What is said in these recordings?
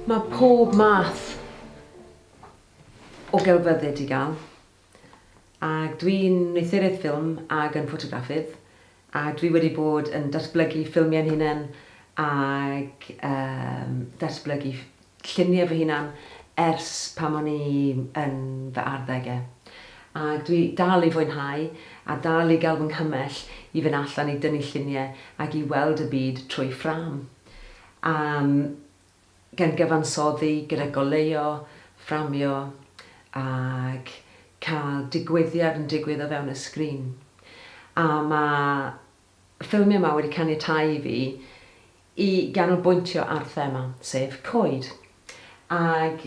Mae pob math o gelfyddyd i gael ac dwi'n wneuthuryd ffilm ac yn ffotograffydd a dwi wedi bod yn datblygu ffilmiau'n hunain ac yym datblygu lluniau fy hunan ers pan o'n i yn fy arddegau. Ac dwi dal i fwynhau a dal i gael fy nghymell i fynd allan i dynnu lluniau ac i weld y byd trwy ffrâm. Am gan gyfansoddi gyda goleuo, fframio ac cael digwyddiad yn digwydd o fewn y sgrin. A mae ffilmiau yma wedi caniatáu i fi i ganolbwyntio ar thema, sef coed. Ac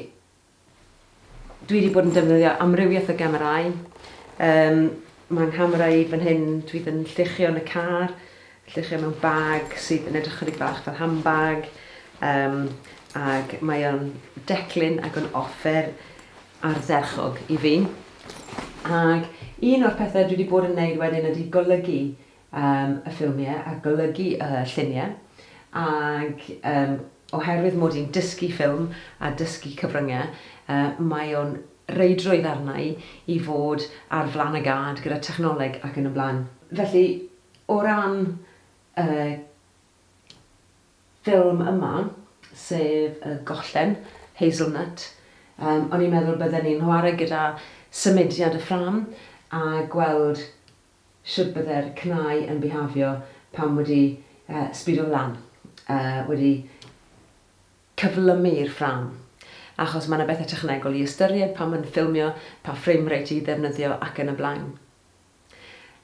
dwi wedi bod yn defnyddio amrywiaeth o gamerâu. Um, mae nghamera i fan hyn, dwi ddim yn lluchio yn y car, lluchio mewn bag sydd yn edrych chydig bach fel handbag. Um, ac mae o'n declyn ac o'n offer ardderchog i fi. Ac un o'r pethau dwi 'di bod yn neud wedyn ydi golygu yym y ffilmie a golygu y llunie ag yym oherwydd mod i'n dysgu ffilm a dysgu cyfrynge yy mae o'n reidrwydd arna i i fod ar flan y gad gyda technoleg ac yn y blaen. Felly o ran y ffilm yma, sef Y Gollen, Hazelnut, yym o'n i'n meddwl bydden ni'n chwarae gyda symudiad y ffrâm a gweld shwd bydde'r cnau yn bihafio pan wedi yy sbido lan, yy wedi cyflymu'r ffrâm, achos ma' 'na bethe technegol i ystyried pan ma'n ffilmio, pa frame rate i ddefnyddio ac yn y blaen.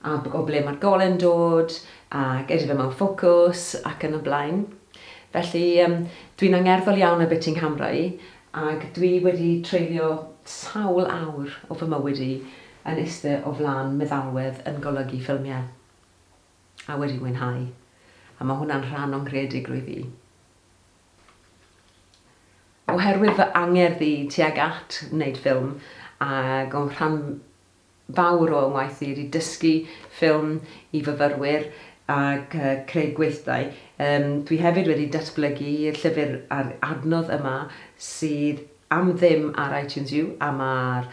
a o ble mae'r gole'n dod, ac ydy fe mewn ffocws, ac yn y blaen. Felly, yym, dwi'n angerddol iawn ar be ti'n nghamrau, ac dwi wedi treulio sawl awr o fy mywyd i yn iste o flan meddalwedd yn golygu ffilmiau, a wedi mwynhau, a mae hwnna'n rhan o'n nghreadigrwydd i. Oherwydd fy angerdd i tuag at wneud ffilm, ac o'n rhan fawr o waith-ddir i dysgu ffilm i fyfyrwyr ac creu gweithdai. Dwi hefyd wedi datblygu llyfr ar adnodd yma sydd am ddim ar iTunes U a mae'r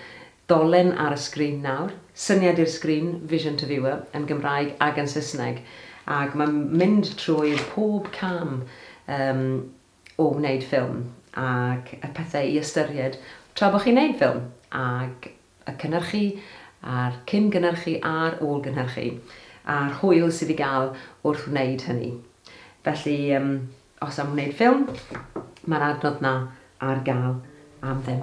dolen ar y sgrin nawr, syniad i'r sgrin, vision to viewer, yn Gymraeg ac yn Saesneg ac mae'n mynd trwy pob cam o wneud ffilm ac y pethau i ystyried tra bod chi'n wneud ffilm ac y cynhyrchu a'r cyn gynhyrchu a'r ôl gynhyrchu a'r hwyl sydd i gael wrth wneud hynny. Felly yym os am wneud ffilm mae'r adnodd 'na ar gael am ddim.